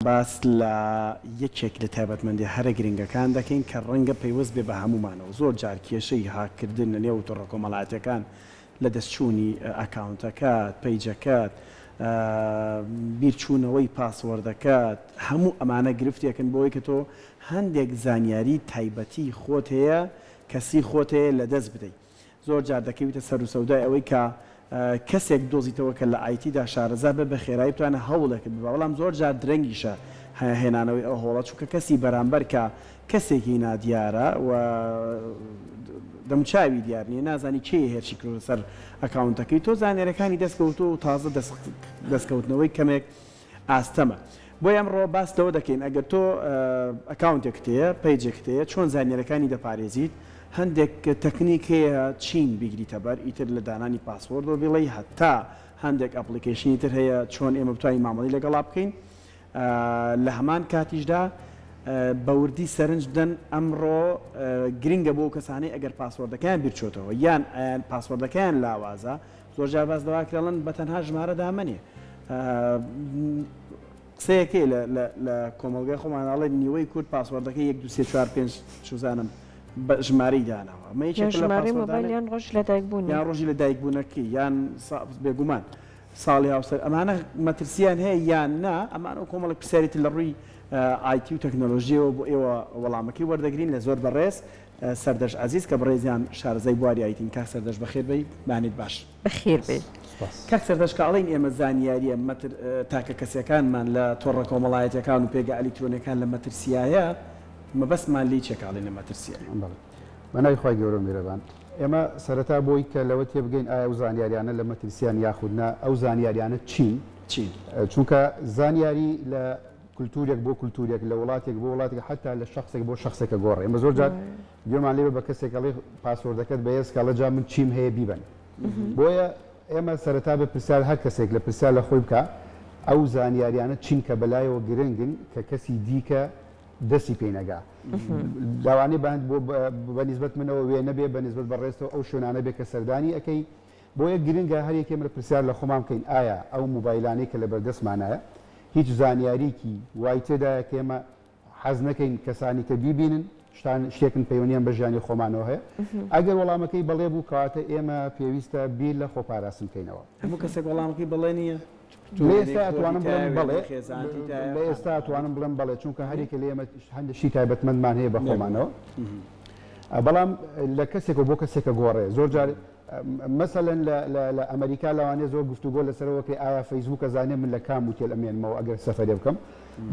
باس لە یەکێک لە تایبەتمەندیە هەرە گرنگەکان دەکەین کە ڕەنگە پەیوەست بێ بە هەموومانەوە، زۆر جار کێشەی هاک کردن لە نێو تۆڕە کۆمەڵاتیەکان لە دەست چوونی ئەکاونتەکەت، پەیجەکەت، بیر چوونەوەی پاسوۆردەکەت، هەموو ئەمانە گرفتێکن بۆوەی کە تۆ هەندێک زانیاری تایبەتی خۆت هەیە، کەسی خۆت هەیە لە دەست بدەی. زۆر جار دەکەویتە سەرو سەودای ئەوەی کە کەسێک بدۆزیتەوە کە لە IT دا شارەزا بێت بە خێرایی بتوانێت هەوڵێکت ببا بەڵام زۆر جار درەنگیشە هێنانەوەی ئەو هەوڵە چونکە کەسی بەرامبەر کە کەسێکی نادیارە و دەموچاوی دیار نیە نازانی کێ هێرشی کردۆتە سەر ئەکاونتەکەی تۆ زانیاریەکانی دەست کەوتووە و تازە دەست کەوتنەوەی کەمێک ئاستەمە بۆیە ئەمڕۆ باس لەوە دەکەین ئەگەر تۆ ئەکاونتێکت هەیە پەیجێکت هەیە چۆن زانیاریەکانی دەپارێزیت هەندێک تەکنیک هەیە چین بیگریتە بەر ئیتر لە دانانی پاسۆرد و بڵێی هەتا هەندێک ئەپڵیکەیشنی تر هەیە چۆن ئێمە بتوانین مامەڵی لەگەڵا بکەین لە هەمان کاتیشدا بە وردی سەرنج بدەن ئەمڕۆ گرنگە بۆ کەسانەی ئەگەر پاسۆردەکەیان بیرچۆتەوە یان پاسۆردەکەیان لاوازە زۆرجار باس لەوە ئەکرێڵن بە تەنها ژمارە دامەنێ قسەیەکەی لە کۆمەڵگای خۆمان ئەڵێ نیوەی کورد پاسوەردەکەی یەک دو سێ چوار پێنج چزانم بە ژمارەی داناوە مە یان ڕۆژ لە دایک بوون یان ڕۆژی لە دایک بوونەکەی یان بێگومان ساڵی هاوسەر ئەمانە مەترسیان هەیە یان نا ئەمان ئەو کۆمەڵک پرسیارێتی لە ڕووی ئایتی و تەکنەلۆژیەوە بۆ ئێوە وەڵامەکەی وەردەگرین لە زۆر بەڕێز سەردەشت عەزیز کە بڕێزیان شارەزای بواری ئایتین کاک سەردەشت بەخێر بێی بانێت باش. بەخێر بێی سوپاس. کاک سەردەشت کە ئەڵێین ئێمە زانیاریە مەتر تاکە کەسیەکانمان لە تۆڕە کۆمەڵایەتیەکان و پێگە ئەلیکترۆنیەکان لە مەترسیایە مەبەستمان لێی چیە کە ئەڵێین لە مەترسیە؟ بەڵێ بە ناوی خوای گەورە و میرەبان. ئێمە سەرەتا بۆی کە لەوە تێبگەین ئایا ئەو زانیاریانە لە مەترسیەن یاخود نا ئەو زانیاریانە چین؟ چین؟ چونکە زانیاری لە. کلتورێک بۆ کلتورێک، لە وڵاتێک بۆ وڵاتێک، حەتا لە شەخسێک بۆ شەخسێکە گۆڕێ. ئێمە زۆر جار گوێمان لێ بێ بە کەسێک ئەڵێ پاسۆردەکەت بەهێز کە، ئەڵێ جا من چیم هەیە بیبەن. بۆیە ئێمە سەرەتا بێ پرسیار هەر کەسێک لە پرسیار لە خۆی بکا ئەو زانیاریانە چین کە بە لایەوە گرنگن کە کەسی دیکە دەستی پێی نەگا. لەوانەیە بە بە نیسبەت منەوە وێنە بێ، بە نیسبەت بەڕێزتەوە ئەو شوێنانە بێ کە سەردانی ئەکەی، بۆیە گرنگە هەر یەکێمر پرسیار لە خۆمان بکەین ئایا ئەو موبایلانەی کە لەبەردەستمانایە هیچ زانیاریکی وای تێدایە کە ئێمە حەز نەکەین کەسانی تر بیبینن شتان شتێکن پەیوەنیان بە ژیانی خۆمانەوە هەیە ئەگەر وەڵامەکەی بەڵێ بوو کاتە ئێمە پێویستە بیر لە خۆپاراستن بکەینەوە هەموو کەسێک وەڵامەکەی بەڵێ نییە لە ئێستا ئەتوانم بڵێم بەڵێ، لە ئێستا ئەتوانم بڵێم بەڵێ، چونکە هەریەکە لێمە هەندێک شتی تایبەتمەندمان هەیە بە خۆمانەوە، بەڵام لە کەسێکەوە بۆ کەسێکە گۆڕێ، زۆر جار مەسەلەن لە ئەمەریکا لەوانەیە زۆر گفتوگۆ لەسەرەوە بکەی ئایا فەیسبووک ئەزانێ من لە کام وتێل ئەمێنمەوە ئەگەر سەفەرێ بکەم،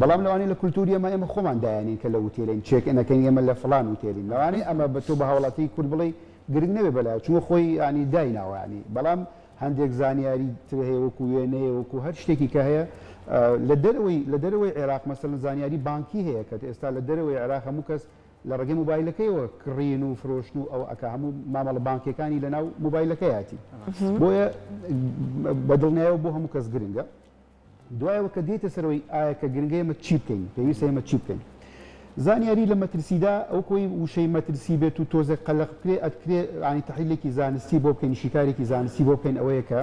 بەڵام لەوانەیە لە کولتووری ئێمە ئێمە خۆمان دایەنین کە لە وتێلین، چێک ئینەکەین ئێمە لە فڵان وتێلین، لەوانەیە ئەمە بە تۆ بە هاوڵاتیی کورد بڵێی گرنگ نەبێ بەلایەوە، چونکە خۆی یانی دایناوە یانی، بەڵام هەندێک زانیاری تر هەیە وەکو وێنەیە وەکو هەر شتێکی کە هەیە لە دەرەوەی لە دەرەوەی عێراق مەسەلەن زانیاری بانکی هەیە کە ئێستا لە دەرەوەی عێراق هەموو کەس لە ڕێگەی موبایلەکەیەوە کڕین و فرۆشتن و ئەو ئەکا هەموو مامەڵە بانکیەکانی لەناو موبایلەکەیاتی بۆیە بەدڵنیایەوە بۆ هەموو کەس گرنگە دوایەوە کە دێیتە سەرەوەی ئایا کە گرنگە ئێمە چی بکەین، پێویستە ئێمە چی بکەین؟ زانیاری لە مەترسیدا ئەو کۆی وشەی مەترسی بێت و تۆزێک قەلەق بکرێ ئەتکرێ یانی تەحلیلێکی زانستی بۆ بکەین شیکارێکی زانستی بۆ بکەین ئەوەیە کە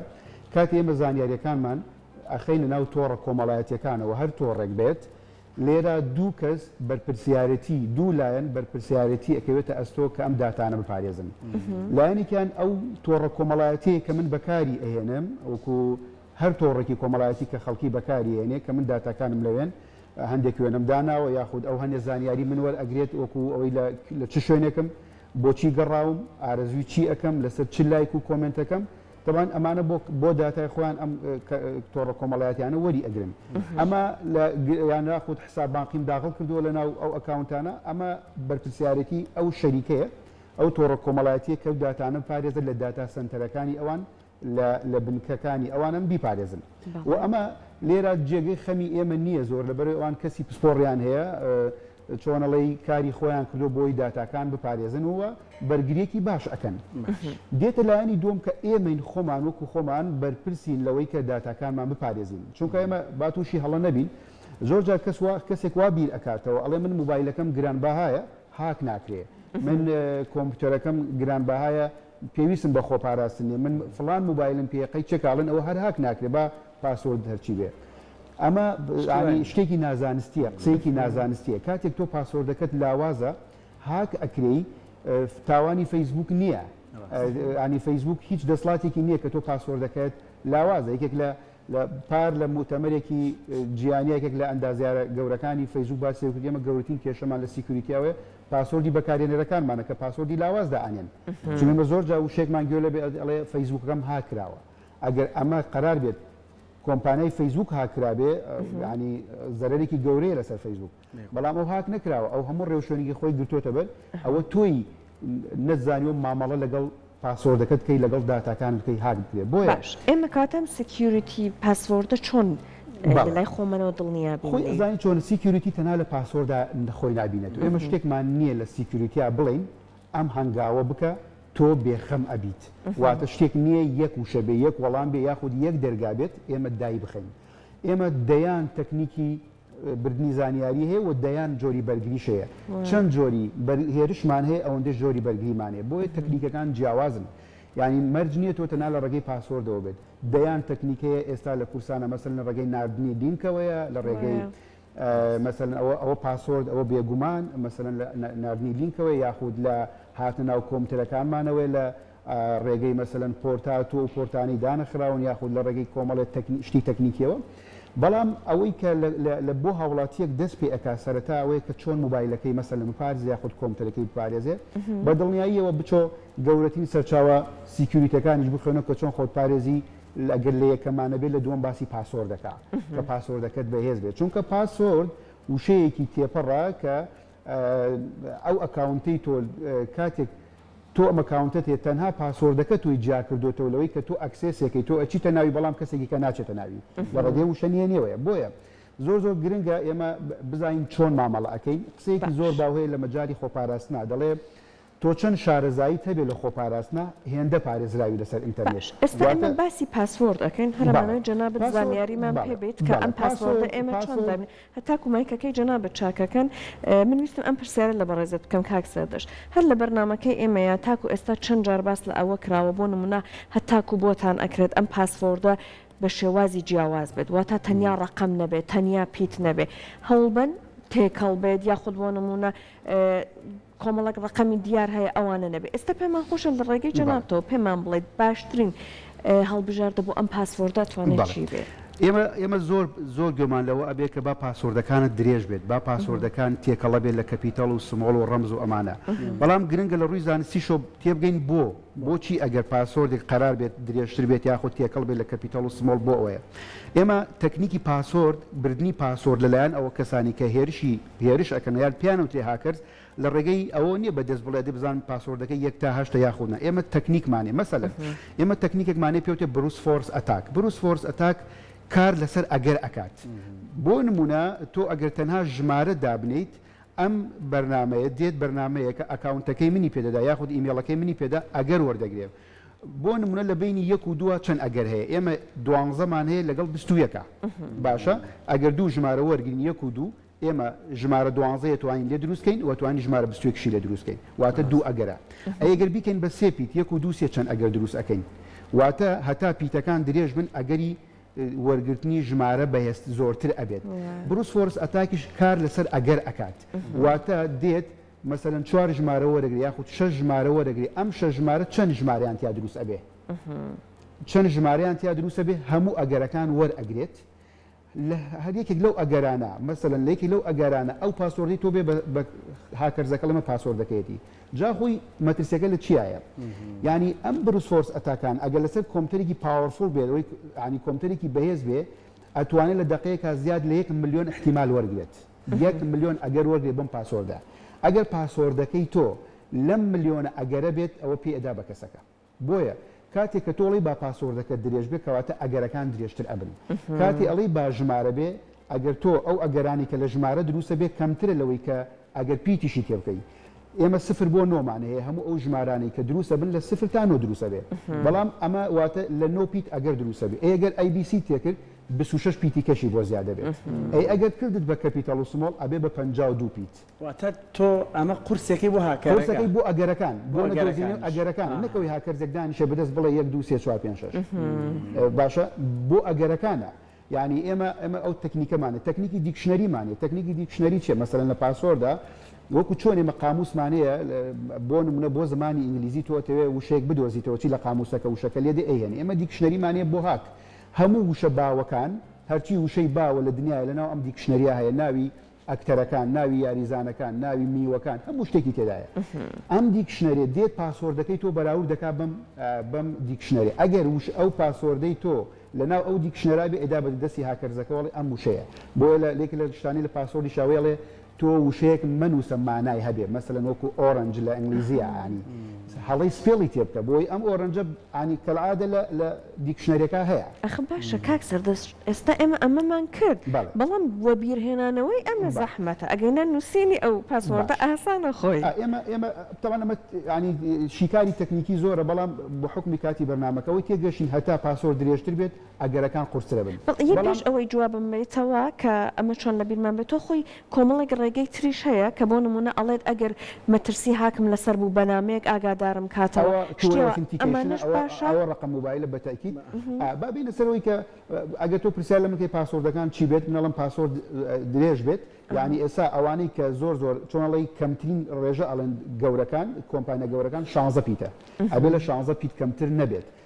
کاتێ ئێمە زانیاریەکانمان ئەخەینە ناو تۆڕە کۆمەڵایەتیەکانەوە هەر تۆڕێک بێت لێرا دوو کەس بەرپرسیارەتی دوو لایەن بەرپرسیارەتی ئەکەوێتە ئەستۆ کە ئەم داتانە بپارێزن لایەنێکیان ئەو تۆڕە کۆمەڵایەتەیە کە من بەکاری ئەهێنم وەکو هەر تۆڕێکی کۆمەڵایەتی کە خەڵکی بەکاری ئەێنێ کە من داتاکانم لەوێن هەندێک وێنەم داناوە یاخود ئەو هەندێ زانیاری من وەر ئەگرێت وەکو ئەوەی لە چ شوێنێکم بۆچی گەڕاوم ئارەزوی چی ئەەکەم لەسەر چ لایک و کۆمنتەکەم دەبان ئەمانە بۆ داتای خۆیان ئەم تۆڕە کۆمەڵایەتیانە وەری ئەگرن ئەمە لە یانرا خودت حساب بانقیم داغڵ کردووە لە ناو ئەو ئەکاونتانە ئەمە بەرپسیارێتی ئەو شەریکەیە ئەو تۆڕە کۆمەڵایەتیە کە داتانە پارێزە لە داتا سنتەرەکانی ئەوان لە لە بنکەکانی ئەوانن بیپارێزن و ئەمە لێرە جێگەی خەمی ئێمە نییە زۆر لە بەرەوەی ئەوان کەسی پسپۆڕیان هەیە چۆنەڵی کاری خۆیان کردو بۆی داتاکان بپارێزن ووە بەرگریەکی باش ئەەکەن دێتە لایەنی دوم کە ئێمەین خۆمان وەکو خۆمان بەرپرسین لەوەی کە داتاکانمان بپارێزین چونکە ئێمە باتوشی هەڵە نەبین زۆر جار کەس وا کەسێک وا بیر ئەکاتەوە ئەڵێ من موبایلەکەم گران بەهایە هاک ناکرێ من کۆمپیوتەرەکەم گران بەهایە پێویستم بە خۆپاراستن نیە من فڵان موبایلم پێیە قەی چێک ئاڵێن ئەوە هەر هاک ناکرێ با پاسۆرد هەرچی بێ ئەمە یانی شتێکی نازانستیە قسەیەکی نازانستیە کاتێک تۆ پاسۆردەکەت لاوازە هاک ئەکرێی تاوانی فەیسبوک نییە ینی فەیسبوک هیچ دەسڵاتێکی نییە کە تۆ پاسۆردەکەت لاوازە یەکێک لە لە پار لە موتەمەرێکی جیانی یەکێک لە ئەندازیارە گەورەکانی فەیسبووک باسی لەوە کرد، ئێمە گەورەترین کێشەمان لە سیکیوریتی ئەوەیە پاسۆردی بەکارهێنەرەکانمانە کە پاسۆردی لاواز دائەنێن. چونکە ئێمە زۆر جار وشەیەکمان گوێ لێ بێت ئەڵێ ئەڵێ فەیسبووکەکەم هاک کراوە. ئەگەر ئەمە قەرار بێت کۆمپانیای فەیسبووک هاک کرابێ یانی زەرەرێکی گەورەیە لەسەر فەیسبووک. بەڵام ئەو هاک نەکراوە ئەو هەموو ڕێوشوێنێکی خۆی گرتوتە بەر ئەوە تۆی نەتزانیوە مامەڵە لەگەڵ پاسۆردەکەت بکەی لەگەڵ داتاکان بکەی هاک بکرێ بۆ باش ئێمە کاتەم سکیوریتی پاسۆردە چۆن لای خۆمەەوە دڵنیا خۆی زانانی چۆن سیکیوریتی تەنا لە پاسۆردا خۆی نبینێت ئێمە شتێکمان نییە لە سیکیوریتیا بڵین ئەم هەنگاوە بکە تۆ بێخەم ئەبیت واتە شتێک نییە یەک وشە بێ یەک وەڵام بێ یاخود یەک دەرگا بێت ئێمە دای بخەین ئێمە دەیان تەکنیکی بردنی زانیاری هەیە و دەیان جۆری بەرگریش هەیە چەند جۆری هێرشمان هەیە ئەوەندەش جۆری بەرگریمانێ بۆیە تەکنیکەکان جیاوازن یعنی مەرج نییە تۆ تەنا لە ڕێگەی پاسۆردەوە بێت دەیان تەکنیکەیە ئێستا لە کورسانە مەسن لە ڕێگەی نردنی لینکەوەیە لە ڕێگەی مەسن ئەوە ئەوە پاسۆرد ئەوە بێگومان مەسن نردنی لینکەوەی یاخود لە هاتە ناو کۆمتەرەکانمانەوەی لە ڕێگەی مەسەلەن پۆرتاتۆ و پۆرتانی دانەخراون یاخود لە ڕێگەی کۆمەڵێ شتی تەکنیکیەوە بەڵام ئەوەی کە لە بۆ هاوڵاتیەک دەست پێ ئەکا سەرەتا ئەوەیە کە چۆن موبایلەکەی مەسەلەن بپارێزێ یاخود کۆمپیوتەرەکەی بپارێزێ بە دڵنیاییەوە بچۆ گەورەترین سەرچاوە سیکیوریتەکانیش بخوێنە کە چۆن خۆت پارێزی لەگەر لە یەکەمانە بێت لە دووەم باسی پاسۆردەکە کە پاسۆردەکەت بەهێز بێت چونکە پاسۆرد وشەیەکی تێپەڕە کە ئەو ئەکاونتەی تۆ کاتێک تۆ ئەم ئەکاونتەت هەیە تەنها پاسۆردەکە تۆی جیا کردوێتەوە لەوەی کە تۆ ئەکسێسێکی تۆ ئەچیتە ناوی بەڵام کەسێکی کە ناچێتە ناوی لە ڕێگەی وشە نیە نێوەیە بۆیە زۆر زۆر گرنگە ئێمە بزانین چۆن مامەڵە ئەەکەین قسەیەکی زۆر باوهەیە لە مەجای خۆپاراستنا دەڵێ تۆ چەند شارەزاییت هەبێ لە خۆپاراستنە هێندە پارێزراوی لەسەر ئینتەرنێت باش ئێستا ئێمە باسی پاسۆرد ئەکەین هەر بەڵێ ئەمانەوێ جەنابت پاسۆرد زانیاریمان بەڵێ پێبەیت کە بەڵێ ئەم پاسۆردە پاسۆرد ئێمە چۆن پاسۆرد دابنێ هەتاکو مایکەکەی جەنابت چاکەکەن من ویستم ئەم پرسیارە لە بەڕێزت بکەم کاک زەردەشت هەر لە بەرنامەکەی ئێمەیا تاکو ئێستا چەند جار باس لە ئەوە کراوە بۆ نمونە هەتاکو بۆتان ئەکرێت ئەم پاسۆردە بە شێوازی جیاواز بێت واتا تەنیا ڕەقەم نەبێت تەنیا پیت نەبێ هەوڵبەن تێکەڵ بێت یاخود بۆ نمونە کۆمەڵێک ڕەقەمی دیار هەیە ئەوانە نەبێت ئێستا پێمان خۆشە لە ڕێگەی جەنابتەوە پێمان بڵێت باشترین هەڵبژاردە بۆ ئەم پاسۆردە توانێت چی بێت؟ ئێمە ئێمە زۆر زۆر گوێمان لەوە ئەبێ کە با پاسۆردەکانت درێژ بێت با پاسۆردەکان تێکەڵە بێت لە کەپیتەڵ و سمۆڵ و ڕەمز و ئەمانە بەڵام گرنگە لە ڕووی زانستی شۆ تێبگەین بۆ بۆچی ئەگەر پاسۆردێک قەرار بێت درێژتر بێت یاخود تێکەڵ بێت لە کەپیتەڵ و سمۆڵ بۆ ئەوەیە ئێمە تەکنیکی پاسۆرد بردننی پاسۆرد لەلایەن ئەوە کەسانی کە هێرشی هێرش ئەکەن یان پێیان وترێ هاکەرز لە ڕێگەی ئەوە نیە بە دەست بڵێ دە بزانم پاسۆردەکەی یەک تا هەشتە یاخود نا ئێمە تەکنیکمانێ مەسەلەن ئێمە تەکنیکێکمانێ پێوتێ بروس فۆرس ئەتاک بروس فۆرس ئەتاک کار لەسەر ئەگەر ئەکات بۆ نمونە تۆ ئەگەر تەنها ژمارە دابنیت ئەم بەرنمەیە دێت بەرنمەیەکە ئەکاونتەکەی منی پێدەدا یاخود ئیمێڵەکەی منی پێدا ئەگەر وەردەگرێت بۆ نمونە لە بەینی یەک و دووە چەند ئەگەر هەیە ئێمە دوانزە مان هەیە لەگەڵ بیست و یەکە باشە ئەگەر دوو ژمارە وەرگین یەک و دوو ئێمە ژمارە دوانزەیە توانین لێ دروستکەین و توانی ژمارە بستێکشی لە دروستکەین واتە دوو ئەگەرە ئەگەر بیکەین بە سێ پیت یەک و دوو سێ چەند ئەگەر دروست ئەەکەین واتە هەتا پیتەکان درێژ بن ئەگەری وەرگرتنی ژمارە بەهێست زۆرتر ئەبێت بروس فۆرس ئەتاکیش کار لەسەر ئەگەر ئەکات واتە دێت مەسەلەن چوار ژمارە وەرەگرێ یاخود شەش ژمارە وەرەگرێ ئەم شەش ژمارە چەن ژمارەیان تیا دروست ئەبێ چەن ژمارەیان تیا دروستە بێ هەموو ئەگەرەکان وەرئەگرێت لە هەر یەکێک لەو ئەگەرانە مەسەلەن لەیەکی لەو ئەگەرانە ئەو پاسۆردی تۆ بێ هاکەرزەکە لەمە پاسۆر دەکەێتی جاخۆی مەترسیەکە لە چیایە ینی ئەم بروسۆرس ئەتاکان ئەگەر لەسەر کۆمپتەرێکی پاوەفۆل بێت ئەوی ینی کۆمپتەرێکی بەهێز بێ ئەتوانێت لە دقەیەکە زیاد لە یەک میلیۆن احتیمال وەرگێت یەک ملیۆن ئەگەر وەرگرێت بەم پاسۆردە ئەگەر پاسۆردەکەی تۆ لەم ملیۆنە ئەگەرە بێت ئەوە پێ ئەدا بە کەسەکە بۆیە کاتێک کە تۆڵی با پاسۆردەکە درێژ بێ کەواتە ئەگەرەکان درێژتر ئەبن کاتی ئەڵی با ژمارە بێ ئەگەر تۆ ئەو ئەگەرانی کە لە ژمارە دروستە بێ کەمترە لەوەی کە ئەگەر پیتیشی تێ بکەی ئێمە سفر بۆ نۆمان هەیە هەموو ئەو ژمارانی کە دروستە بن لە سفر تا نۆ دروستە بێ بەڵام ئەمە واتە لە نۆ پیت ئەگەر دروستە بێ ئەگەر ئەی بیسی تێکرد بیست و شەش پیتی کەشی بۆ زیادە بێت ئەی ئەگەر کردت بە کەپیتەڵ و سمۆڵ ئەبێ بە پەنجا و دوو پیت. واتە تۆ ئەمە قورسەکەی بۆ هاکەرەکە. قورسەکەی بۆ ئەگەرەکان بۆ نەدۆزینەوەی ئەگەرەکانە نەک ئەوەی هاکەرزێک دانیشێ بەدەست بڵێ یەک دوو سێ چوار پێنج شەش باشە بۆ ئەگەرەکانە یعنی ئێمە ئەمە ئەو تەکنیکەمانە تەکنیکی دیکشنەریمانێ تەکنیکی دیکشنەری چێ مەسەرەن لە پاسۆردا وەکو چۆنێ مە قاموسمانەیە بۆ نمونە بۆ زمانی ئینگلیزی تۆتەوێ وشەیەک بدۆزیتەوە چی لە قاموسەکە وشەکە لێدە ئەیهێنێ ئێمە دیکشنەریمانەیە بۆ هاک هەموو وشە باوەکان، هەرچی وشەی باوە لە دنیایە لەناو ئەم دیکشنەریە هەیە، ناوی ئەکتەرەکان، ناوی یاریزانەکان، ناوی میوەکان، هەموو شتێکی تێدایە. ئەم دیکشنەریە دێت پاسۆردەکەی تۆ بەراورد دەکات بەم بەم دیکشنەرە، ئەگەر وش ئەو پاسۆردەی تۆ لەناو ئەو دیکشنەرابێ ئێدا بەدەستی هاکەرزەکەوەڵی ئەم وشەیە، بۆیە لە لێک لە شتانی لە پاسۆردیشاوەیەڵێ تۆ وشەیەک مەنووسە مانای هەبێ مەسەلەن وەکو ئۆرەنج لە ئەنگلیزیە ئانی هەڵەی سپێڵی تێ بکە بۆی ئەم ئۆرەنجە ئانی کەلعادە لە دیکشنەرێکا هەیە ئەخ باشە کاک سەردەست ئێستا ئێمە ئەمەمان کرد بەڵام وەبیرهێنانەوەی ئەمە زەحمەتە ئەگەینا نووسینی ئەو پاسۆردە ئاسانە خۆی ئێمە ئێمە تەوان ئەمە ینی شیکاری تەکنیکی زۆرە بەڵام بە حکمی کاتی بەرنمەکەەوەی تێگەشین هەتا پاسۆر درێژتر بێت ئەگەرەکان قورسترەبن بەڵام. ئەوەی جوابم بەیتەوە کە ئەمە چۆن لە بیرمان بێت تۆ خۆی کۆمەڵێک ڕێگەی تریش هەیە کە بۆ نمونە ئەڵێت ئەگەر مەترسی هاکم لەسەر بوو بەنامەیەک ئاگادارم کاتەوە ئەوە ڕقم موبایلە بەتەکید با بینە سەرەوەی کە ئەگەر تۆ پرسیار لە مکەی پاسۆردەکان چی بێت منەڵم پاسۆرد درێژ بێت یعنی ئێسا ئەوانەی کە زۆر زۆر چۆنڵی کەمترین ڕێژە ئەڵێن گەورەکان کۆمپانیا گەورەکان شانزە پیتە ئەبێ لە شانزە پیت کەمتر نەبێت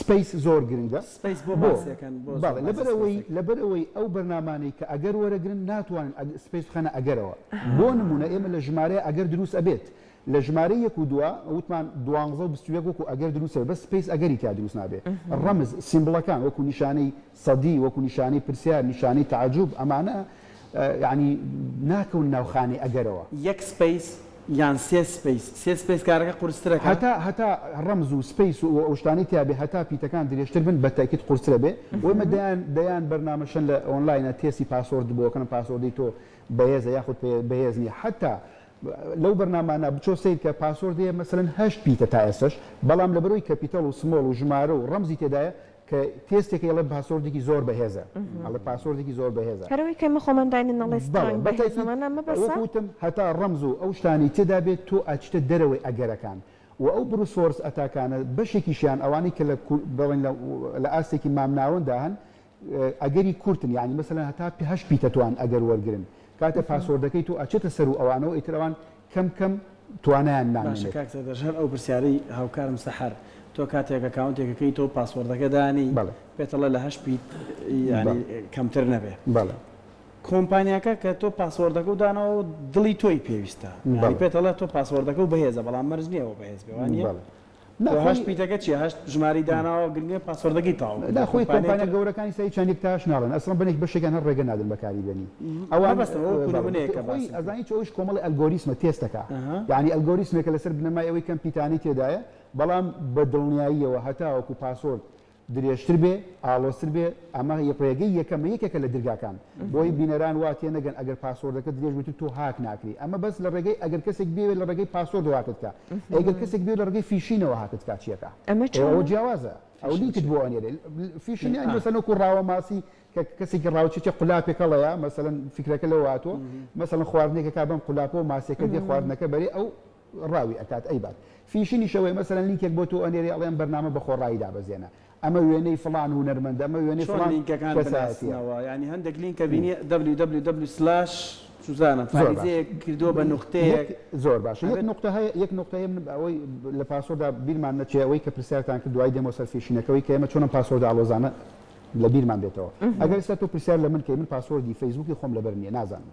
سپەیس زۆر گرنگە سپەیس بۆ بۆ؟ باسێکەن بۆ زۆر بەڵێ بازی لەبەرئەوەی سپەیسەکەن. لەبەرئەوەی ئەو بەرنامانەی کە ئەگەر وەرەگرن ناتوانن ئەگ سپەیس بخەنە ئەگەرەوە بۆ نمونە ئێمە لە ژمارەیە ئەگەر دروست ئەبێت لە ژمارەی یەک و دوا وتمان دوانزە و بیست و یەک وەکو ئەگەر دروست ئەبێت بەس سپەیس ئەگەری تیا دروست نابێت ڕەمز سیمبڵەکان وەکو نیشانەی سەدی وەکو نیشانەی پرسیار، نیشانەی تەعەجوب ئەمانە یانی ناکەون ناو خانەی ئەگەرەوە. یەک سپەیس یان سێ سپەیس؟ سێ سپەیس کارەکە قورستر ئەکا. هەتا هەتا ڕەمز و سپەیس و ئەوشتانەی تیا بێ هەتا پیتەکان درێژتر بن بە تەئکید قورستر ئەبێ و ئێمە دەیان دەیان بەرنامە شەن لە ئۆنلاینە تێستی پاسۆرد بۆ ئەکەن پاسۆردی تۆ بەهێزە یاخود بەهێز نیە حەتا لەو بەرنامانە بچۆ سەیر کە پاسۆردی مەسەلەن هەشت پیتە تا ئێستەش بەڵام لەبەرەوەی کەپیتەڵ و سمۆڵ و ژمارە و ڕەمزی تێدایە کە تێستێکە یەڵێ باسۆردێکی زۆر بەهێزە ئەڵێ پاسۆردێکی زۆر بەهێزە هەرەوەی کە ئێمە خۆمان داینن ئەڵێ سترانگ بەهێزە مانا مەبەسە وەکو وتم هەتا ڕەمز و ئەو شتانەی تێدا بێت تۆ ئەچیتە دەرەوەی ئەگەرەکان و ئەو بروس فۆرس ئەتاکانە بەشێکیشیان ئەوانەی کە لە کور بڵێن لە لە ئاستێکی مامناوەندا هەن ئەگەری کورتن یانی مەسەلەن هەتا پێ هەشت پیتە توان ئەگەر وەرگرن کاتێ پاسۆردەکەی تۆ ئەچێتە سەر و ئەوانەوە ئیتر ئەوان کەم کەم توانایان نامێنێت. باشە کاک سەردەشت هەر ئەو پرسیارەی هاوکارم سەحەر تۆ کاتێک ئەکاونتێک ئەکەی تۆ پاسۆردەکە دانی پێتەڵێ لە هەشت بیت یانی کەمتر نەبێ کۆمپانیاکە کە تۆ پاسۆردەکەو داناوە دڵی تۆی پێویستە یانی پێتەڵێ تۆ پاسۆردەکەو بەهێزە بەڵام مەرج نیە ئەوە بەهێز بێ وانیە؟ و هەشت پیتەکە چیە هەشت ژمارەی داناوە گرنگە پاسۆردەکەی تاو بکە لە خۆی کۆمپانیا گەورەکانی سەری چەندێک تاش ناڵێن ئەسڵەن بەنێک بەشێکیان هەر ڕێگە نادەن بەکاری بێنی ئەوان مەبەستم ئەوە کورە منەیە کە باسی کرد ئەزانی چ ئەوش کۆمەڵی ئەلگۆریسمە تێستەکە یانی ئەلگۆریسمێکە لەسەر بنەمای ئەوەی کەم پیتانەی تێدایە بەڵام بە دڵنیاییەوە هەتاوەکو پاسۆرد درێژتر بێ ئاڵۆزتر بێ ئەمە ڕێگەی یەکەمە یەکێکە لە درگاکان بۆی بینەران وا تێ نەگەن ئەگەر پاسۆردەکە درێژ بێت تۆ هاک ناکری ئەمە بەس لە ڕێگەی ئەگەر کەسێک بێت لە ڕێگەی پاسۆردەوە هاکت کا ئەگەر کەسێک بێت لە ڕێگەی فیشینەوە هاکت کا چیەکە ئەمە ئەوە جیاوازە ئەو لینکت بۆ ئەنێرێ فیشین یان مەسەنۆک و ڕاوە ماسی کە کەسێکی ڕاوچێکی قولاپێک هەڵەیە مەسەن فکرەکە لەوە هاتووە مەسەن خواردنێکەکە بەم قولاپەوە ماسیەکە دێ خواردنەکە بەرێ ئەو ڕاوی ئەکات ئەیبات فیشنی شەوەی مەسەلەن لینکێک بۆ تۆ ئەنێرێ ئەڵێ ئەم بەرنامە بە خۆڕایی دابەزێنە ئەمە وێنەی فڵان هونەرمەندە ئەمە وێنەی چۆن فڵان لینکەکان کەسایەتیە بناسنەوە یانی هەندێک لینکە بینی www سلاش چوزانم زۆر باشە فاریزەیەک کردووە بە یەک نوختەیەک زۆر باشە یەک ئەبێت نوقتە هەیە یەک نوقتە هەیە من ئەوەی لە پاسۆردا بیرمان نەچێ ئەوەی کە پرسیارتان کرد دوای دێمەوە سەر فیشینەکەوەی کە ئێمە چۆن ئەم پاسۆردە ئاڵۆزانە لە بیرمان بێتەوە ئەگەر ئێستا تۆ پرسیار لە من کەی من پاسۆردی فەیسبووکی خۆم لەبەر نییە نازانم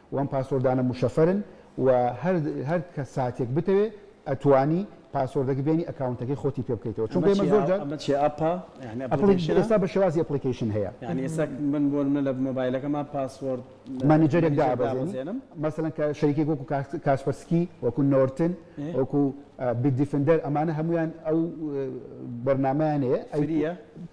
و ئەم پاسۆردانە مشەفەرن و هەر هەر ساتێک بتەوێ ئەتوانی پاسۆردەکە بێنی ئەکاونتەکەی خۆتی پێ بکەیتەوە چونکە ئێمە زۆر جار ئەمە چیە ئەپە یانی ئەپڵیکەیشنە ئێستا بە شێوازی ئەپڵیکەیشن هەیە یانی ئێستا من بۆ نمونە لە مۆبایلەکەما پاسۆرد مانیجەرێک دابەزێنم مەسەلەن کە شەریکێک وەکو کاسپەرسکی وەکو نۆرتن وەکو بیت دیفندەر ئەمانە هەمویان ئەو بەرنامەیان هەیە فریە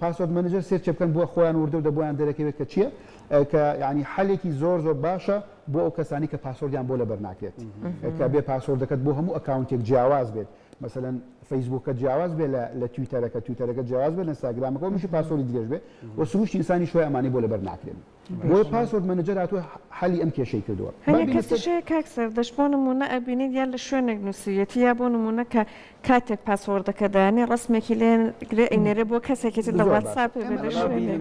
پاسۆرد مەنجەر سێرچێ بکەن بۆ خۆیان وردە وردە بۆیان دەرەکەوێت کە چیە کە یانی حەلێکی زۆر زۆر باشە بۆ ئەو کەسانی کە پاسۆردیان بۆ لەبەر ناکرێت کە بێ پاسۆردەکەت بۆ هەموو ئەکاونتێک جیاواز بێت مەسەەن فەیسبووکە جیاواز بێ لە تویتەرەکە تویتەرەکە جیاواز بێ نستاگرامەکە میشی پاسۆری درێژ بێ و سروشتی ئسانی شوێ ئەمانی بۆ لەبەر ناکرێن بۆیە پاسۆرد مەنەجەر هاتووە حەلی ئەم کێشەی کردووە. هەنێ کەسیش هەیە کاک سەردەشت بۆ نموونە ئەبینیت یا لە شوێنێک نووسیویەتی یا بۆ نموونە کە کاتێک پاسۆردەکە دەیانێ ڕەسمێکی لێ گرێ ئەینێرێ بۆ کەسێکی تر لە واتساپ بێ لە شوێنێ.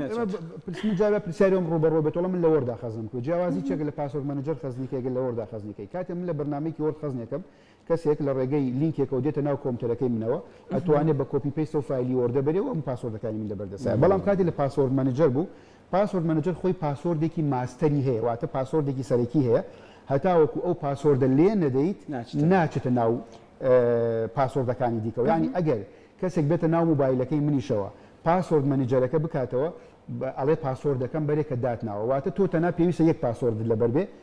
من جارێ پرسیاری ئەوم ڕووبەڕوو بێت وەڵا من لە وۆردا خەزنم کردووە جیاوازی چییە کە لە پاسۆرد مەنەجەر خەزنی کە ئەگەر لە وۆردا خەزنی کەی کاتێ من لە بەرنامەیەکی وۆرد خەزنێکم کەسێک لە ڕێگەی لینکێکەوە دێتە ناو کۆمتەرەکەی منەوە ئەتوانێ بە کۆپی پەیست ئەو فایلی وۆردە بەرێ و ئەم پاسۆردەکانی من لەبەر دەستایە بەڵام کاتی لە پاسۆرد مەنجەر بوو پاسۆرد مەنجەر خۆی پاسۆردێکی ماستەری هەیە واتە پاسۆردێکی سەرەکی هەیە هەتاوەکو ئەو پاسۆردە لێ نەدەیت ناچێتە ناو پاسۆردەکانی دیکەەوە ینی ئەگەر کەسێک بێتە ناو موبایلەکەی منیشەوە پاسۆرد مەنجەرەکە بکاتەوە ئەڵێ پاسۆردەکەم بەرێکە داتناوە واتە تۆ تەنا پێویستە یەک پاسۆردت لەبەر بێ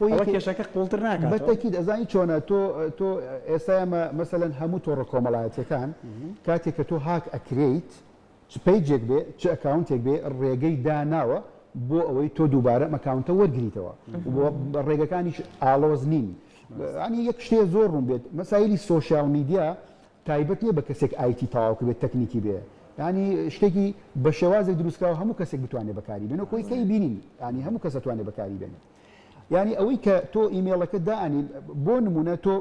ئەوە کێشەکە قوڵتر ناکاتەوە؟ بە تەکید ئەزانی چۆنە تۆ تۆ ئێستا ئێمە مەسەلەن هەموو تۆڕە کۆمەڵایەتیەکان کاتێک کە تۆ هاک ئەکرێیت چ پەیجێک بێ چ ئەکاونتێک بێ ڕێگەی داناوە بۆ ئەوەی تۆ دووبارە ئەم ئەکاونتە وەرگریتەوە ڕێگەکانیش ئاڵۆز نین ئەنی یەک شتێ زۆر ڕوون بێت مەسایلی سوۆشیال میدیا تایبەت نیە بە کەسێک ئایتی تەواوکە بێت تەکنیکی بێ ینی شتێکی بە شێوازێک دروستکراوە هەموو کەسێک بتوانێت بەکاری بێن و کۆی کەی بینین ینی هەموو کەسەتوانێت بەکاری بێنێت یانی ئەوەی کە تۆ ئیمێڵەکەت دائەنی بۆ نمونە تۆ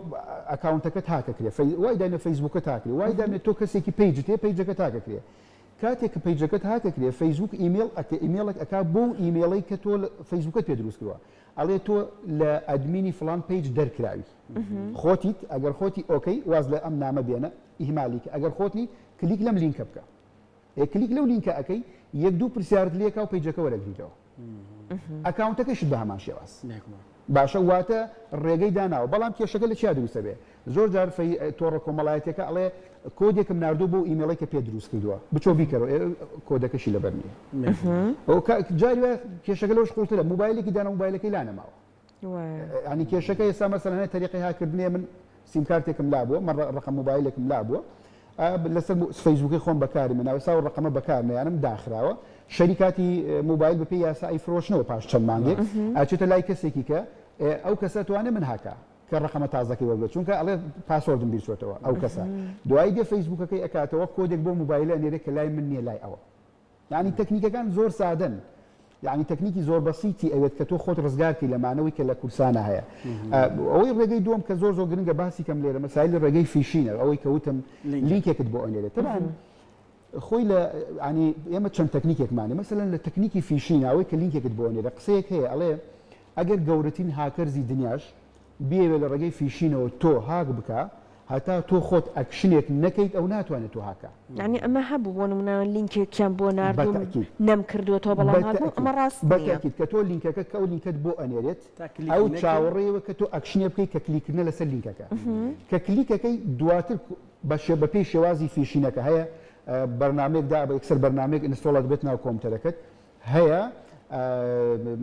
ئەکاونتەکەت هاکەکرێ وای دامێ فەیسبوکە تاکرێ وای دامێت تۆ کەسێکی پیج تێ پیجەکە تاکەکرێ کاتێک کە پیجەکەت هاکەکرێ فەیسبوک ئیمێل ئەکە ئیمێڵێک ئەک بۆ و ئیمێڵی کە تۆ فەیسبوکەت پێ دروست کردوە ئەڵێ تۆ لە ئەدمینی فلان پیج دەرکراوی خۆتیت ئەگەر خۆتی ئۆکەی واز لە ئەم نامە بێنە ئیهمالیکە ئەگەر خۆتی کلیک لەم لینکە بکە ئەی کلیک لەو لینکە ئەکەی یەک دوو پرسیارت لێکا و پەیجەکە وەرەگریتەوە ئەکاونتەکەشت بە هەمان شێواز باشە واتە ڕێگەی داناوە بەڵام کێشەکە لە چیا دروستە بێ زۆر جار تۆڕە کۆمەڵایەتەکە ئەڵێ کۆدێکم نردوو بۆ ئیممەڵی کە پێ دروست کردووە بچۆ بیکەەوە کۆدەکەشی لەبەر نیە جاری کێشەکە لەش قوڵترە موبایلێکی دانە موبایلەکەی لانەماوە یانی کێشەکە ئێستا مەسەلەنای تەریقی هاکردنێ من سیمکارتێکم لابووە مە ڕقم موبایلێکم لابووە لەسەر فەیسبووکی خۆم بەکاری من ناوسا و ڕقمە بەکارنیانم داخراوە شەریکاتی موبایل بەپی یاسایی فرۆشنەوە پاش چەند مانگێک ئاچێتە لای کەسێکی کە ئەو کەسە توانێ من هاکە کە ڕقمە تازەکەی وەگە چونکە ئەڵێ پاسۆردم بیرچێتەوە ئەو کەسە دوای دێ فەیسبووکەکەی ئەکاتەوە کۆدێک بۆ موبایلە نێرێک کە لای من نیە لای ئەوە یانی تەکنیکەکان زۆر سادەن یانی تەکنیکی زۆر بەسیتی ئەوێت کە تۆ خۆت ڕزگار کەی لە مانەوەی کە لە کورسانە هەیە ئەوەی ڕێگەی دوم کە زۆر زۆر گرنگە باسی کەم لێرە مەسایلی ڕێگەی فیشینە ئەوەی کەوتم لینکێکت بۆ ئەنێرێت تەبان خۆی لە ینی ئێمە چەند تەکنیکێکمانێ مەسەن لە تەکنیکی فیشیناوەی کە لینکێکت بۆ نێرە قسەیەک هەیە ئەڵێ ئەگەر گەورەترین هاکەرزی دنیاش بیەوێ لە ڕێگەی فیشینەوە تۆ هاک بکا هەتا تۆ خۆت ئەکشنێک نەکەیت ئەو ناتوانێت تۆ هاکا. یانی ئەمە هەبوو بۆ نمونە لینکێکیان بۆ ناردووم نەمکردوەتەوە بەڵام هاتبوو ئەمە ڕاست نیە. بەتاکید کە تۆ لینکەکە کە ئەو لینکەت بۆ ئەنێرێت ئەو چاوەڕێیەوە کە تۆ ئەکشنێ بکەیت کە کلیکردنە لەسەر لینکەکە کە کلیکەکەی دواتر بەشێ بەپێی شێوازی فیشینەکە هەیە بەرنامەیەک دابە یەکسەر بەرنامەیەک ئینستۆڵ ئەدبێت ناو کۆمپیوتەرەکەت هەیە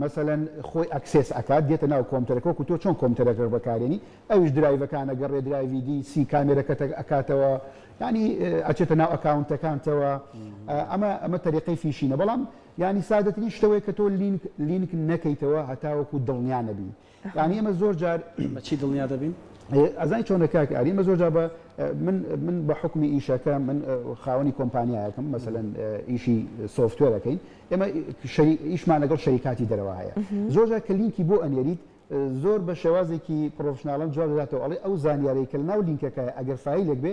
مەسەلەن خۆی ئەکسێس ئەکات دێتە ناو کۆمتەرەکە وەکو تۆ چۆن کۆمتەرەکە بەکارێنی ئەویش درایڤەکانە گەڕێ درایڤی دی سی کامێرەکەتە ئەکاتەوە ینی ئەچێتە ناو ئەکاونتەکانتەوە ئەمە ئەمە تەریقی فیشینە بەڵام ینی سادەترین شتەوەی کە تۆ لینک لینک نەکەیتەوە هەتاوەکو دڵنیانەبی یانی ئێمە زۆر جار بە چی دڵنیا دەبین؟ ئەزای چۆنە کاک ئاری مە زۆرجا بە من بە حکومی ئیشەکە من خاوەنی کۆمپانیایەکەم مەسەن ئیشی سوفتێرەکەین ئێمە ئیشمان لەگەڵ شەریکاتی دەرەوە هەیە زۆرجا کە لینکی بۆ ئەنێریت زۆر بە شێوازێکی پرۆفشنناڵم جواب دەداتەوە ئەڵێ ئەو زانیارەی کە لەناو لینکەکە ئەگەر فیلێک بێ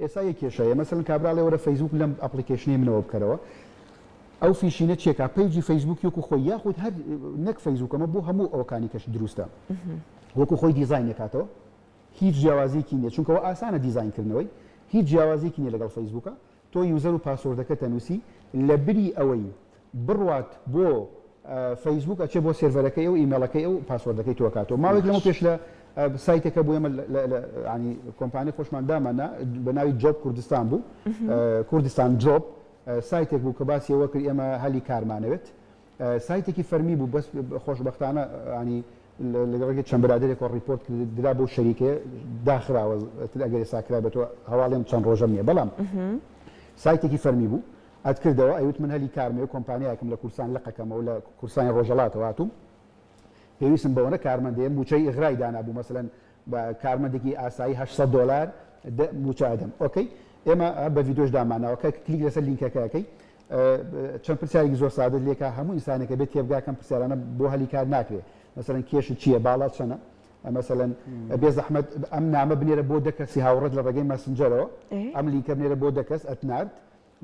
ئێستا یەک کێشە هەیە مەسەلەن کابرا ئەڵێ وەرە فەیسبووک لەم ئەپڵیکەیشنەی منەوە بکەرەوە ئەو فیشینە چیە کا پەیجی فەیسبووکی وەکو خۆی یاخود هەر نەک فەیسبووک ئەمە بۆ هەموو ئەوەکانی کەش دروستە وەکو خۆی دیزاینی کاتەوە هیچ جیاوازیکی نیە چونکەوە ئاسانە دیزاین کردنەوەی هیچ جیاوازیکی نیە لەگەڵ فەیسبووکە تۆ یوزەر و پاسۆردەکە تەنووسی لە بری ئەوەی بڕوات بۆ فەیسبووک ئەچێ بۆ سێرڤەرەکەی ئەو ئیمێڵەکەی ئەو پاسۆردەکەی تۆ کاتەوە ماوەێک لەمە پێش لە سایتێکە بۆ ئێمە ینی کۆمپانی خۆشمان دامانە بە ناوی جۆب کوردستان بوو کوردستان جۆب سایتێک بوو کە باسیەوە کرد ئێمە هەلی کارمانەوێت سایتێکی فەرمی بوو بەس خۆشببختانە ینی لەگەڕێکی چەند برادێک و ڕیپۆرت درا بۆ شەریکێ داخراوە ئەگەر ساکرا بە تۆ هەواڵێن چەند ڕۆژە نیە بەڵام سایتێکی فەرمی بوو ئەتکردەوە ئەیوت من هەلی کارمە یە کۆمپانیایەکم لە کوردستان لەقەکەمە و لە کوردستانی ڕۆژەڵاتەوە هاتووم پێویستم بەوەنە کارمەندە یە مووچەی ئغرای دانابوو مەسەلەن بە کارمەندێکی ئاسایی هەشت سەد دۆلار مووچە ئەدەم ئۆکەی ئێمە بە ڤیدۆش دامانەوە کە کلیک لەسەر لینکەکەکەی چەند پرسیارێکی زۆر سادە لێکا هەموو ئینسانەکە بێت تێبگاکەم پرسیارانە بۆ هەلی کار ناکرێ مەسەن کێش چییە باڵا چەنە مەسەن بێ زەحمت ئەم نامە بنێرە بۆ دەکەسی هاوڕێت لە ڕێگەی مەسنجەرەوە ئەم لینکە بنێرە بۆ دەکەس ئەتنارد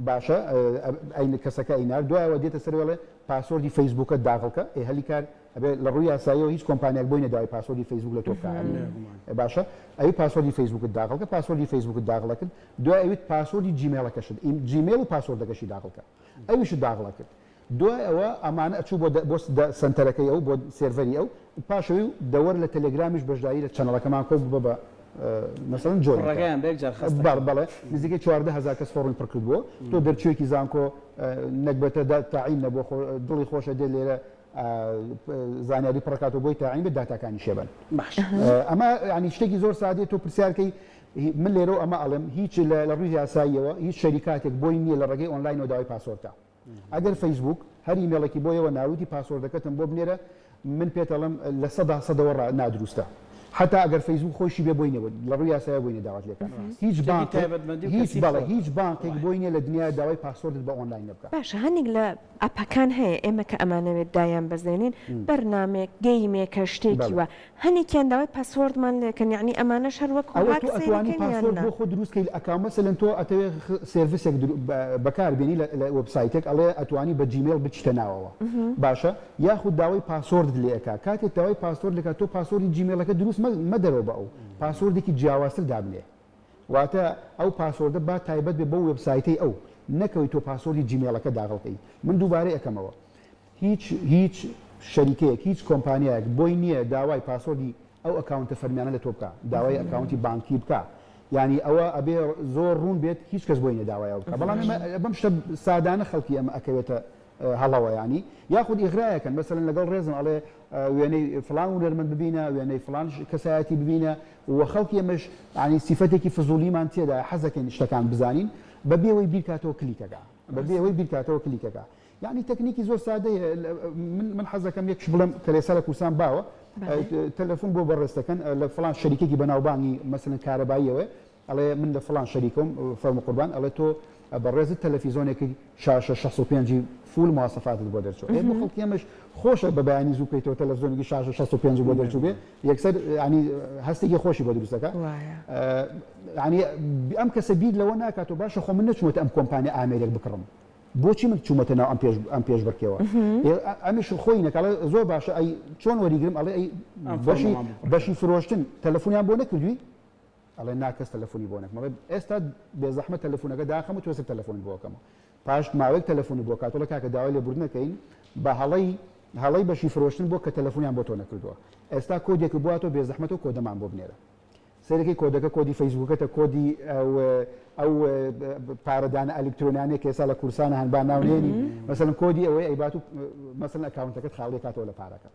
باشە ئەی کەسەکە ئەی نارد دوای ئەوە دێتە سەرێ ئەڵێ پاسۆردی فەیسبووکەت داغڵ کە ئەی هەلی کار ئەبێ لە ڕووی یاساییەوە هیچ کۆمپانیاک بۆی نەداوای پاسۆردی فەیسبووک لە تۆ بکات باشە ئەوی پاسۆردی فەیسبووکت داغڵ کە پاسۆردی فەیسبووکت داغڵە کرد دوای ئەویت پاسۆردی جیمێڵەکەشت جیمێڵ و پاسۆردەکەشی داغڵ کە ئەویشت داغڵە کرد دوای ئەوە ئەمانە ئەچوو بۆ دە بۆ دە سەنتەرەکەی ئەو بۆ سێرڤەری ئەو پاش ئەوی و دەوەر لە تەلەگرامیش بەشداری لە چەنەڵەکەمان کۆ ببە بە مەسەڵەن جۆین بکە کوڕەکەیان بە یەک جار خەست بەڵێ دەکەن بەڵێ نزیکەی چواردە هەزار کەس فۆڕمی پڕ کردبۆوە تۆ دەرچوویەکی زانکۆ نەگبەتە دا تەعین نەبووە خۆ دڵی خۆشە دێ لێرە زانیاری پڕ کاتەوە بۆی تەعین بێ داتاکانی شێ بن باشە ئەمە یانی شتێکی زۆر سادەیە تۆ پرسیار کەی من لێرەو ئەمە ئەڵێم هیچ لە لە ڕووی یاساییەوە هیچ شەریکاتێک بۆی نییە لە ڕێگەی ئۆنلاینەوە داوای پاسۆرتە ئەگەر فەیسبووک هەر ئیمێڵێکی بۆ یەوە ناویتی پاسۆردەکەتم بۆ بنێرە من پێتەڵم لە سەدا سەدەوە ڕا نادروستە حتا ئەگەر فەیسبووک خۆشی بێ بۆی نەبێت لە ڕووی یاسایە بۆی نەداوات لێکە هیچ بانک تایبەتمەندی و هیچ کەسی بەڵێ بکەوە هیچ بانکێک بۆی نیە لە دنیا داوای پاسۆردت بە ئۆنلاین نەبکە باشە هەندێک لە ئەپەکان هەیە ئێمە کە ئەمانەوێت دایانبەزێنین بەرنامەیەک گەیمێکە شتێکی بەڵێ وا هەنێکیان داوای پاسۆردمان لێکەن یەعنی ئەمانەش هەر وەک ئەوە هاک تۆ ئەتوانی سەیرەکەن یان پاسۆرد نا؟ بۆ خۆ دروست کەی لە ئەکاو مەسەلەن تۆ ئەتەوێ سێرڤسێک درو بەکار بێنی لە لە وێبسایتێک ئەڵێ ئەتوانی بە جیمێڵ بچیتە ناوەوە باشە یاخود داوای پاسۆردت لێ ئەکا کاتێ داوای پاسۆرد لێ ئەکا تۆ پاسۆردی جیمێڵەکە دروست مە مەدەرەوە بە ئەو پاسۆردێکی جیاوازتر دابنێ واتە ئەو پاسۆردە با تایبەت بێ بەو وێبسایتەی ئەو نەکەوی تۆ پاسۆردی جیمێڵەکە داغڵ کەی من دووبارەی ئەکەمەوە هیچ هیچ شەریکەیەک هیچ کۆمپانیایەک بۆی نیە داوای پاسۆردی ئەو ئەکاونتە فەرمیانە لە تۆ بکا داوای ئەکاونتی بانکی بکا یانی ئەوە ئەبێ زۆر ڕوون بێت هیچ کەس بۆی نیە داوای ئەو بکا بەڵام ئێمە بەم شتە سادانە خەڵکی ئەمە ئەکەوێتە هەڵەوە ینی یاخود ئیغرایەکەن مەسەن لەگەڵ ڕێزم ئەڵێ وێنەی فلان و نەرمەند ببینە وێنەی فلان کەسایەتی ببینە و خەڵکی ئەمەش ینی سیفەتێکی فزولیمان تێدا حەزەکەین شتەکان بزانین بە بێەوەی بیرکاتەوە کلیکەکە بە بێەوەی بیرکاتەوە کلیکەکە یەعنی تەکنیکی زۆر سادەیە من حەز دەکەم یەکش بڵێم کەلێسا لە کوردستان باوە تەلەفۆن بۆ بەڕێزەکەن لە فلان شەریکێکی بەناوبانگی مەسەن کارەباییەوە ئەڵێ من لە فلان شەریکۆم فەرم قوربان ئەڵێ تۆ بەڕێزت تەلەفیزۆنێکی شاشە 65 فول مواسەفاتت بۆ دەرچوە ئێ بۆ خەڵکی ئەمەش خۆشە بە بەیانی زوو کەیتەوە تەلەفزۆنێکی شاشە 65 بۆ دەرچوو بێ یەکسەر ینی هەستێکی خۆشی بۆ دروستەکە ینی ئەم کەسە بیر لەوە ناکات و باشە خۆ من نەچمەوە ئەم کۆمپانیا ئامێرێک بکڕم بۆچی من چومەتە ناو ئەم پێش ئەم پێش بڕکێوە ئەمیش خۆی نەکەڵێ زۆر باشە ئەی چۆن وەریگرم ئەڵێ ئەی بەشی بەشی فرۆشتن تەلەفۆنیان بۆ نەکردوی ئەڵێ ناکەس تەلەفۆنی بۆ نەکمەڵێ ئێستا بێزەحمە تەلەفۆنەکە داخەم و تۆسە تەلەفۆنی بۆکەمەوە پاش ماوەی تەلەفۆنی بۆ کاتۆڵە کاکە داوای لێ بردنەکەین بە هەڵی هەڵی بەشی فرۆشتن بۆ کە تەلەفۆنیان بۆ تۆ نەکردووە ئێستا کۆدێک بواتۆ بێزەحمەتەوە کۆدەمان بۆ بنێرە سەیرەکەی کۆدەکە کۆدی فەیسبوکەتە کۆدی ئە و پارە دانە ئە لکترۆنانێک کە ئێسا لە کورسانە هەن با ناو نێنی مەسەن کۆدی ئەوەی ئەی بات و مەسن ئەکاونتەکەت خاڵی کاتەوە لە پارەکە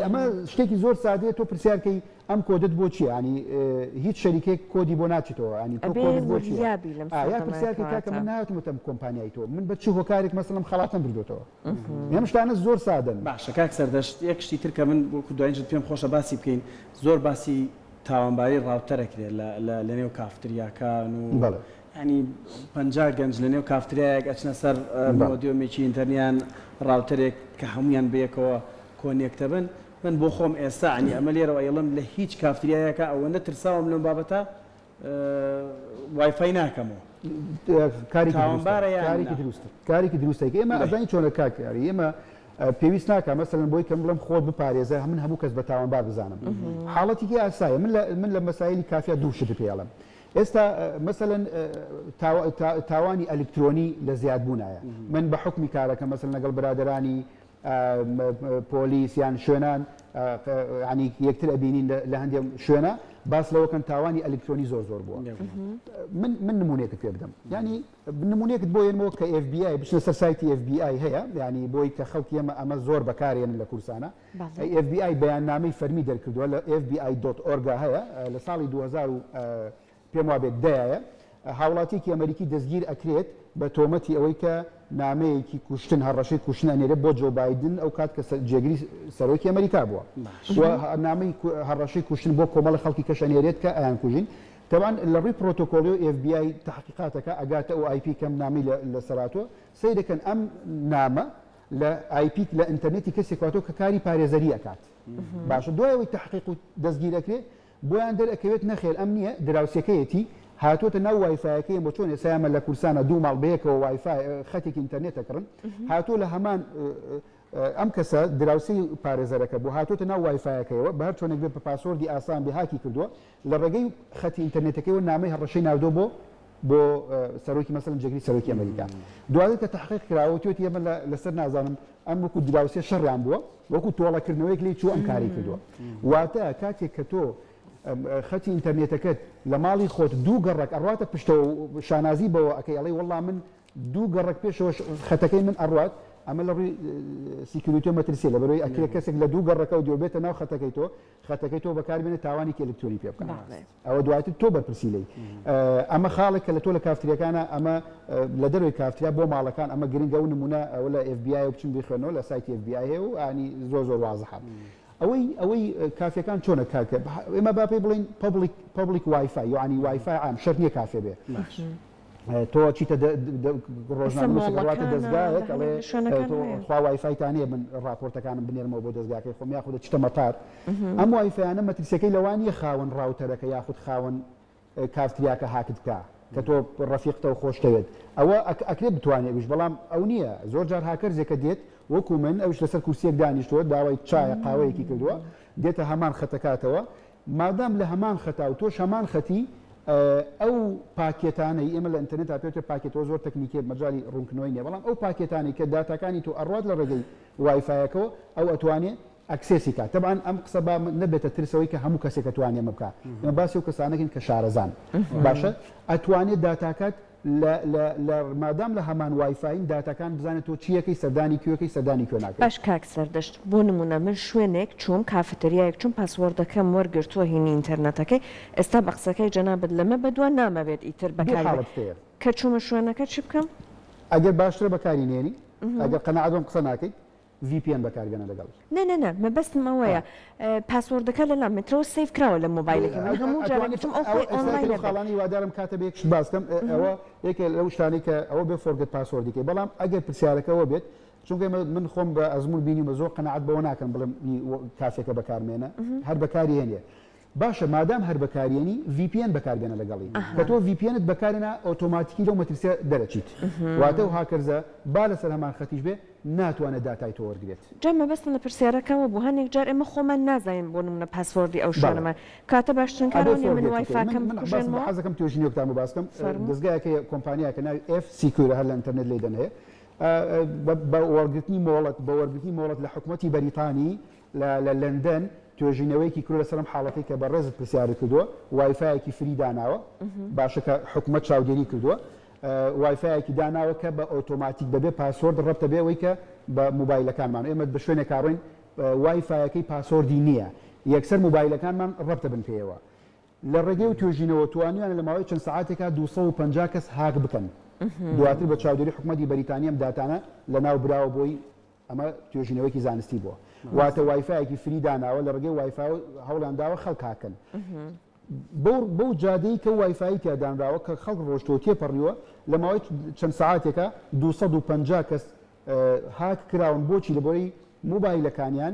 ئەمە شتێکی زۆر سادەیە تۆ پرسیارکەی ئەم کۆدت بۆ چیە ینی هیچ شەریکێک کۆدی بۆ ناچیتەوە ینی تۆ کۆدت بۆ چیە؟ ئایا پرسیارکەی کاکە من ناتمتم کۆمپانیای تۆ من بە چ هۆکارێک مەسەلم خەڵاتم بردوێتەوە ئەم شتانە زۆر سادەن. باشە کاک سەردەشت یەک شتی تر کە من وەکو دوایین شت پێم خۆشە باسی بکەین زۆر باسی تاوانباری ڕاوتەر ئەکرێ لە لە لەنێو کافتریاکان و یانی پەنجا گەنج لەنێو کافتریایەک ئەچنە سەر مۆدیۆمێکی ئینتەرنیان ڕاوتەرێک کە هەموویان بەیەکەوە کۆنێکتە بن من بۆ خۆم ئێستا عنی ئەمە لێرەوە ئەیڵێم لە هیچ کافتریایەکا ئەوەنە ترساوم لەم بابەتە وای فای ناکەم و کاری تاوانبارە یان کارێکی نا؟ دروستە کارێکی دروستە ئێمە بەی. ئەزانی چۆنە کاک یاری ئێمە اه، پێویست ناکە مەسەلەن بۆی کەم بڵێم خۆت بپارێزە من هەموو کەس بە تاوانبار بزانم حاڵەتێکی ئاسایە من لە من لە مەسایلی کافیا دوو شت پێڵم ئێستا اه، مەسەلەن اه، تاوا- تا- تاوانی ئەلکترۆنی لە زیادبوونایە من بە حکمی کارەکە مەسەلەن لەگەڵ برادەرانی پۆلیس یان شوێنان ینی یەکتر ئەبینین لە هەندێک شوێنە باس لەوەکەن تاوانی ئەلکترۆنی زۆر زۆر بووە من نمونونێکت پێ بدەم ینی نمونونێکت بۆ ێنەوە کە FBI بچنە سەر سایتی FBI هەیە ینی بۆی کە خەڵکی ئەمە ئەمە زۆر بەکارێن لە کورسانە FBI بەیان نامی فەرمی دەرکردووە لە FBI.org هەیە لە ساڵی 2000 پێم وابێت دەیایە هاوڵاتیەکی ئەمەریکی دەستگیر ئەکرێت بە تۆمەتی ئەوەی کە نامەیەکی کوشتن هەڕەشەی کوشتن ئەنێرێت بۆ جۆ بایدن ئەو کات کە جێگری سەرۆکی ئەمەریکا بووە نامی هەڕەشەی کوشتن بۆ کۆمەڵی خەڵکی کەش ئەنێرێت کە ئەیان کوژین تەوان لە ڕووی پرۆتۆکۆلی و FBI تحقیقاتەکە ئەگاتە ئەو آیپی کەم نامی لە سەراتوە سیرەکەن ئەم نامە لە آیپیک لە ئینتەرنێتی کەسێکاتۆ کە کاری پارێزەری ئەکات باشە دوایەوەی تحقیق و دەستگیرەکرێت بۆیان دەر ئەکەوێت نەخێر ئەم نیە دراوسێکەیەتی هاتوەتە ناو وایفایەکەی ئەمە چۆن ئێسا ئەمە لە کوردستانا دوو ماڵ بەیەکەوە وایفای خەتێکی ئینتەرنێت ئەکڕن هاتوە لە هەمان ئەم کەسە دراوسێی پارێزەرەکە بوو هاتوەتە ناو وایفایەکەیەوە بە هەر چۆنێک بێت بە پاسۆردی ئاسان بێ هاکی کردووە لە ڕێگەی خەتی ئینتەرنێتەکەیەوە نامەی هەڕەشەی ناردۆ بۆ بۆ سەرۆکی مەسەلەن جێگری سەرۆکی ئەمریکا دواتر کە تحقیق کراوە توێتی ئەمە لەسەر نازانم ئەم وەکو دراوسێ شەڕیان بووە وەکو تۆڵەکردنەوەیەک لێی چووە ئەم کارەی کردووە واتە کاتێک کە تۆ خەتی ئینتەرنێتەکەت لە ماڵی خۆت دوو گەڕک ئەڕاتە پشتەوە شانازی بەوە ئەەکەی ئەڵی وەڵام من دوو گەڕک پێشەوەش خەتەکەی من ئەڕات ئەمە لە ڕووی سیکیوریتۆ مەترسیە لە بەرەوەی ئەکرێ کەسێک لە دوو گەڕەکە و دۆبێتە ناو خەتەکەی تۆ خەتەکەی تۆ بەکار بێنە تاوانێکی ئەلکترۆنی پێ بکە ئەوە دواتر تۆ بەرپرسی لێی ئەمە خاڵێک کە لە تۆ لە کافتریەکانە ئەمە لە دەروی کافتریا بۆ ماڵەکان ئەمە گرنگە و نمونە ئەوە لە FBI و بچن بخوێنەوە لە سایتی FBI هەیە و ئانی زۆر زۆر وازحە ئەوەی ئەوەی کافەکان چۆنە کارکە ئێمە باپی بڵین پبلیک پبلیک وایفای یعنی وایفای عام شەر نیە کافێ بێ تۆ چیتە ڕۆژنامەواتە دەستگایەک ئەڵێ خوا وایفایتانێ من ڕاپۆرتەکانم بنێرمەوە بۆ دەستگاکەی خۆم یاخود چتە مەتار ئەم وایفیانە مەترسیەکەی لەوانیە خاون ڕاوتەرەکە یاخود خاون کافتریاکە هاکت بکە کە تۆ ڕفیقتە و خۆشتەوێت ئەوە ئەکرێت بتوانێت وش بەڵام ئەو نییە زۆر جار هاکەرزێکە دێت وەکو من ئەوش لەسەر کورسیەک دانیشتووە داوای چایە قاوەیەکی کردووە دێتە هەمان خەتەکاتەوە مادام لە هەمان خەتا و تۆش هەمان خەتی، ئەو پاکێتانەی، ئێمە لە ئینتەرنێتا پێ وترێ پاکێت، ئەوە زۆر تەکنیکییە مەجالی ڕوونکردنەوەی نییە، بەڵام ئەو پاکێتانەی کە داتاکانی تۆ ئەڕوات لە ڕێگەی وایفایەکەوە، ئەو ئەتوانێ ئەکسێسی کات. تەبعەن ئەم قسە با نەبێتە ترسەوەی کە هەموو کەسێک ئەتوانێ ئەمە بکا، ئێمە باسی ئەو کەسانە دەکەین کە شارەزان، باشە؟ ئەتوانێ داتاکات. لە لە لە مادام لە هەمان وایفاین داتاکان بزانە تۆ چیەکەی سەردانی کوێکەی سەردانی کوێ ناکەی. باش کاک زەردەشت بۆ نمونە من شوێنێک چووم کافەتریایەک چووم پاسوۆردەکەم وەرگرتووە هینی ئینتەرنەتەکەی ئێستا بە قسەکەی جەنابت لەمە بەدوا نامەوێت ئیتر دوو بەکاری حاڵەتت هەیە کە چوومە شوێنەکە چی بکەم؟ ئەگەر باشترە بەکاری نێنی ئەگەر قەناعەت بەم قسە ناکەیت ڤی پی ئێن بەکار بێنە لەگەڵ. نە نە نە مەبەستم ئەوەیە پاسۆردەکە لە لام مترەوە سەیڤ کراوە لە مۆبایلەکەی من هەموو جارێک گوتم ئەو خۆی ئۆنڵاینە بێ. ئەوە ئێستا خاڵانی هیوادارم کاتە بێ یەک شت باس کەم ئەوە یەکێ لەو شتانەی کە ئەوە بێ فۆرگێت پاسۆردی کەی بەڵام ئەگەر پرسیارەکە ئەوە بێت چونکە ئێمە من خۆم بە ئەزموون بینیومە زۆر قەناعەت بەوە ناکەم بڵێم کاسێکە بەکارمێنە هەر بەکاری هێنێ باشە مادام هەر بەکاریەنی ڤی پی ئێن بەکار بێنە لەگەڵی کە تۆ ڤی پی ئێنت بەکارێنا ئۆتۆماتیکی لەو مەترسیە دەرەچیت واتە و هاکەرزە با لەسەر هەمان خەتیش بێ ناتوانێت داتای تۆ وەرگرێت. جا مەبەستم لە پرسیارەکە ئەوە بوو هەندێک جار ئێمە خۆمان نازانین بۆ نمونە پاسۆردی ئەو بەڵێ شوێنەمان کاتە باشترین کار ئەبێ ئەو نیە من فۆرگێت بکەی وایفاکەم من باسم بکوژێنمەوە؟ حەز دەکەم توێژینەوەکتان بۆ باس بکەم فەرموو. دەزگایەک هەیە کۆمپانیایەکە ناوی ئێف سیکیورە هەر لە ئینتەرنێت لێی دەنێ بە بە وەرگرتنی مۆڵەت بە وەرگرتنی مۆڵەت لە حکومەتی بەریتانی لە لەندەن توێژینەوەیەکی کردوە لەسەر ئەم حاڵەتەی کە بەڕێزت پرسیارت کردوە وایفایەکی فری داناوە باشە کە حکومەت چاودێری کردووە وایفایەکی داناوە کە بە ئۆتۆماتیک بەبێ پاسۆرد ڕەبتە بێ ئەوەی کە بە موبایلەکانمان ئێمە بە شوێنێک کاڕۆین وایفایەکەی پاسۆردی نییە یەکسەر موبایلەکانمان ڕەبتە بن پێیەوە لە ڕێگەی و توێژینەوە توانیان لە ماوەی چەند ساعتێکا 250 کەس هاک بکەن دواتر بە چاودێری حکومەتی بەریتانیام داتانە لە ناو براوە بۆی ئەمە توێژینەوەیەکی زانستی بووە واتە وایفایەکی فری داناوە لە ڕێگەی وایفاو هەوڵیان داوە خەڵک هاککەن بەو جادەی کە وایفایی تیادانراوە کە خەڵک ڕۆشتۆ تێپەڕیوە لە ماوەی چەند سعاتێکە 250 کەس هاک کراون بۆچی لەبەوەی موبایلەکانیان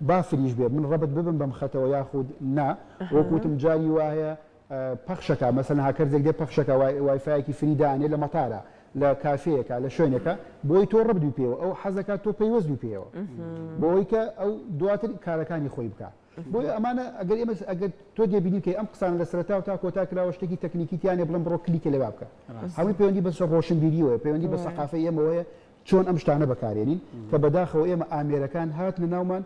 با فریش بێ من ڕەبت ببم بەم خەتەوە یاخود نا وەک وتم جاری وا هەیە پەخشەکە مەسەن هاکەرزێک دێ پەخشەکە وایفایەکی فری دانێ لە مەتارە لە کافەیەکە لە شوێنێکە بۆی تۆ ڕبدوی پێوە ئەو حەزەکە تۆ پەیوەستوی پێوە بۆی کە ئەو دواتر کارەکانی خۆی بکە بۆی ئەمانە ئەگەر ئێمە ئەگەر تۆ دێبینی کە ئەم قسان لە سەرتا و تا کۆتا کراوە شتێکی تەکنیکی تیانێ بڵم بڕۆ کلیکە لەوا بکە هەمووی پەیوەندی بەسە ڕۆشنبیریەوە پەیوەندی بە سەقافە ئێمەوەیە چۆن ئەم شتانە بەکارێنین کە بەداخەوە ئێمە ئامێرەکان هاتنە ناومان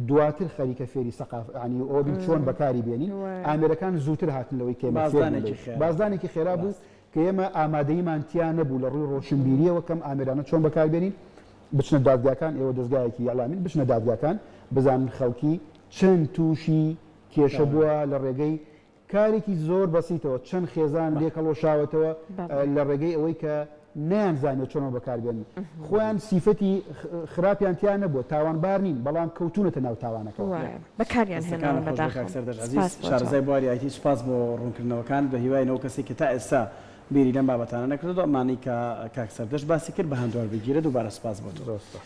دواتر خەریکە فێری سەقاف عنی ئەوە بین چۆن بەکاری بێنین ئامێرەکان زووتر هاتن لەوەی کە ئێمە فێر بووین لێی بازدانێکی خێرا بوو کە ئێمە ئامادەییمان تیا نەبوو لە ڕووی ڕۆشنبیرییەوە کەم ئامێرانە چۆن بەکاربێنین بچنە دادگاکان ئێوە دەزگایەکی ئیعلامین بچنە دادگاکان بزانن خەڵکی چەند تووشی کێشە بووە لە ڕێگەی کارێکی زۆر بەسیتەوە چەند خێزانم لێ کەڵوەشاوەتەوە لە ڕێگەی ئەوەی کە نەیان زانێت چۆنەوە بەکاربێن خۆیان سیفەتی خراپیان تیا نەبووە تاوانبار نین بەڵام کەوتونەتە ناو تاوانەکەەوە بەکاریان شارزای بواری ئایتی سپاس بۆ ڕوونکردنەوەکان بە هیوای نەوە کەسێک کە تا ئێستا بیری لەم بابەتانە نەکردو ئەمانەی کە کاک سەردەشت باسی کرد بە هەندوار بگیرێت دووبارە سپاس بۆ تۆ.